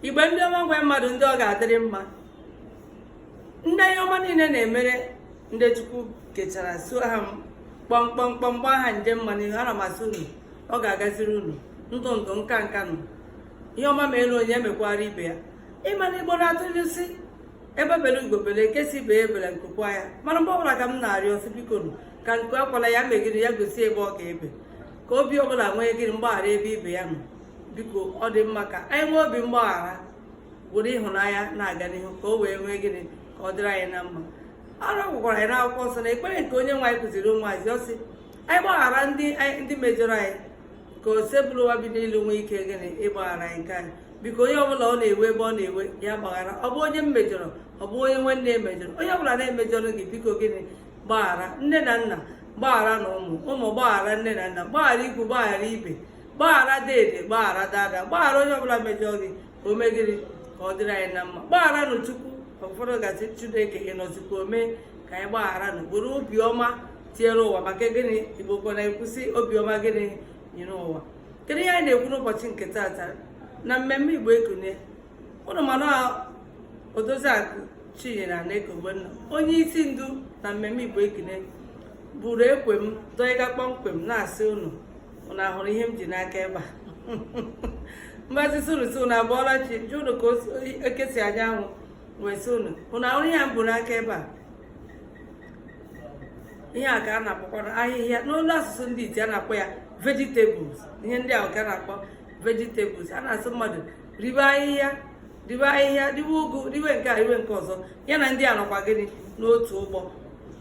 igbo ndị ọma nwe mmadụ ndị ọ ga-adịrị mma ndị ihe ọma niile na-emere ndị chukwu kechara so ha kpọmkpọmkpọm gbaa ha nje mma n'ihu ana m asị unu ọ ga-agaziri unu ndụ ndụ nka nka nụ ihe ọma melu onye emekwara ibe ya ị ma na igbo na-atụ inu sị egbe bere ugo bere nke sị ibe ya ebela nku kwaa ya mana mgbe ọbụla ka m na-arịọ sị biko ka nku akwala ya mee gịrị ya gosi ebe ọ ga-ebe ka obi ọbụla nwee gịrị mgbaghara ebe ibe ya nọ biko ọ dị mma ka anyị nwee obi mgbaghara were ịhụnanya na-aga n'ihu ka o wee nwee gịnị ka ọ dịrị anyị na mma a rịọkwara anyị n'akwụkwọ nsọ n'ekpere nke onye nwe anyị kụziri ụmụazụ ọ sị anyị gbaghara ndị mejọrọ anyị ka osebụrụwa bi n'elu nwee ike gịnị ịgbaghara anyị nke anyị biko onye ọbụla ọ na-ewe ebe ọ na-ewe ya gbaghara ọ bụ onye m mejọrọ ọ bụ onye nwanne m mejọrọ onye ọbụla mejọrọ gị biko gịnị gbaghara nne na nna gbagharanụ ụmụ ụmụ gbaghara nne na nna gbaghara ikwu gbaghara ibe gbaghara dede gbaghara dada gbaghara onye ọbụla mejọ gị ka o mee gịrị ka ọ dịrị anyị na mma gbagharanụ chukwu ụfọdụ ga-asị chineke ị nọzikwa o mee ka anyị gbagharanụ buru obiọma tinyere ụwa maka gịnị igbo kwa na-ekwu sị obiọma gịnị nyere ụwa kedu ihe anyị na-ekwu n'ụbọchị nke taata na mmemme igbo ekunie ụnụ ma na odoziakụ chinyere aneke ogbonna onye isi ndu na mmemme igbo ekunie buru ekwe m dọịga kpọmkwem na-asị ụnụ ụnụ ahụrụ ihe m ji n'aka ebe a mgbazi sụrụsị ụnụ abọọla chi jụọ ụnụ ka eke si anya anwụ wee sị ụnụ ụnụ ahụrụ ihe m bu n'aka ebe a ihe a ka a na-akpọkwa ahịhịa n'olu asụsụ ndị iti a na-akpọ ya vegetables ihe ndị ahụ ka a na-akpọ vegetables a na-asị mmadụ ribe ahịhịa ribe ahịhịa riwe ụgụ riwe nke a riwe nke ọzọ ya na ndị a nọkwa gịnị n'otu ụgbọ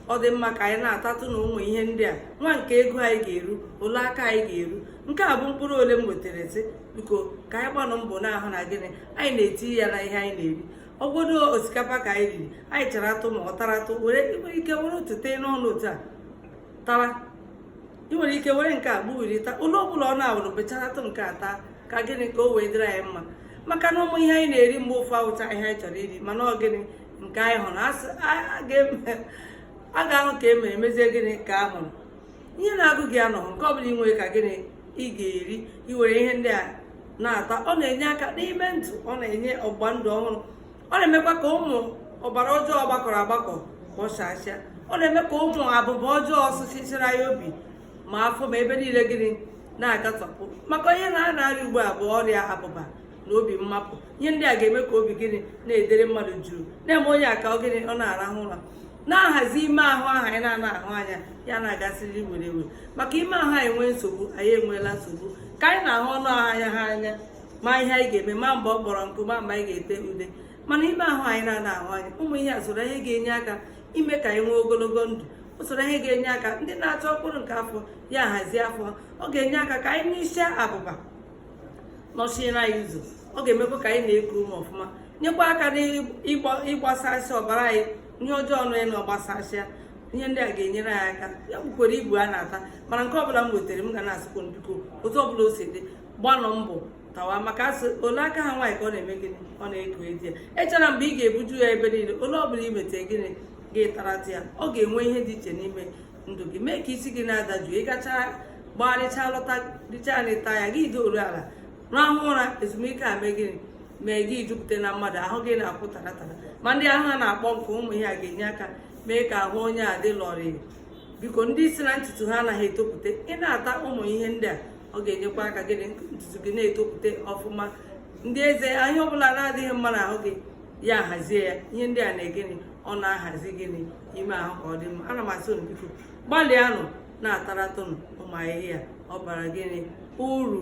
ọ dị mma ka anyị na-atatụ na ụmụ ihe ndị a nwa nke ego anyị ga-eru ole aka anyị ga-eru nke a bụ mkpụrụ ole m wetara sị biko ka anyị gbanụ mbọ na-ahụ na gịnị anyị na-eti ya n'ihe anyị na-eri ọ wụ godu osikapa ka anyị riri anyị charatụ ma ọ taratụ ị nwere ike were otu tee n'ọnụ otu a tara ị nwere ike were nke a gbuwirita ụlọ ọbụla ọ na-awụrụ becharatụ nke a taa ka gịnị ka o wee dịrị anyị mma maka na ụmụ ihe anyị na-eri mgbe ụfọ awụcha ihe anyị chọrọ iri mana ọ gịnị nke anyị hụrụ a ga-ahụ ka e mere e mezie gịnị ka a hụrụ ihe na-agụ gị anọghị nke ọ bụla ị nwere ka gịnị ị ga-eri i were ihe ndị a na-ata ọ na-enye aka n'ime ndụ ọ na-enye ọgba ndụ ọhụrụ ọ na-emekwa ka ụmụ ọbara ọjọọ gbakọrọ agbakọ kpọchasịa ọ na-eme ka ụmụ abụba ọjọọ sụchisiri ya obi ma afọ ma ebe niile gịnị na-agatọpụ maka ihe a na-arịa ugbu a bụ ọrịa abụba na obi mmapụ ihe ndị a ga-eme ka obi gịnị na-edere mmadụ juu na-eme onye a ka ọ gịnị ọ na-arahụ ụra na-ahazi ime ahụ ahụ anyị na-ana ahụ anya ya na-agasịrị were were maka ime ahụ anyị nwee nsogbu anyị enweela nsogbu ka anyị na-ahụ ọnụ ahụ anya ha anya ma ihe anyị ga-eme ma mgbe ọ kpọrọ nkụ ma mgbe anyị ga-ete ude mana ime ahụ anyị na-ana ahụ anya ụmụ ihe a soro ihe ga-enye aka ime ka anyị nwee ogologo ndụ o soro ihe ga-enye aka ndị na-achọ mkpụrụ nke afọ ya hazie afọ ọ ga-enye aka ka anyị n'isi abụba nọchiere anyị ụzọ ọ ga-emekwa ka anyị na-eku ume ọfụma nyekwa aka n'ịgbasasị ọbara anyị ihe ọjọọ nọ na ọ gbasasịa ihe ndị a ga-enyere anyị aka ya bukwara ibu a na-ata mana nke ọbụla m wetara m ga na-asịkwa biko otu ọbụla o si dị gbanụ mbọ tawa maka a sị ole aka ha nwaanyị ka ọ na-eme gịnị ọ na-eku di ya echela mgbe ị ga-ebuju ya ebe niile ole ọ bụla i mete gịnị gị taratụ ya ọ ga-enwe ihe dị iche n'ime ndụ gị mee ka isi gị na-adaju ị gacha gbagharịcha lọta richa nri ta ya gị doru ala rahụ ụra ezumike a mee gịnị mee gị jupụta na mmadụ ahụ gị na-akwụ tara tara ma ndị ahụ ha na-akpọ nkụ ụmụ ihe a ga-enye aka mee ka ahụ onye a dị lọrịị biko ndị isi na ntutu ha anaghị etopụta ị na-ata ụmụ ihe ndị a ọ ga-enyekwa aka gịnị ntutu gị na-etopụta ọfụma ndị eze ahịa ọbụla na-adịghị mma na ahụ gị ya hazie ya ihe ndị a na-egịnị ọ na-ahazi gịnị ime ahụ ka ọ dị mma ana m asị unu biko gbalịanụ na-ataratụnụ ụmụ ahịhịa ọ bara gịnị uru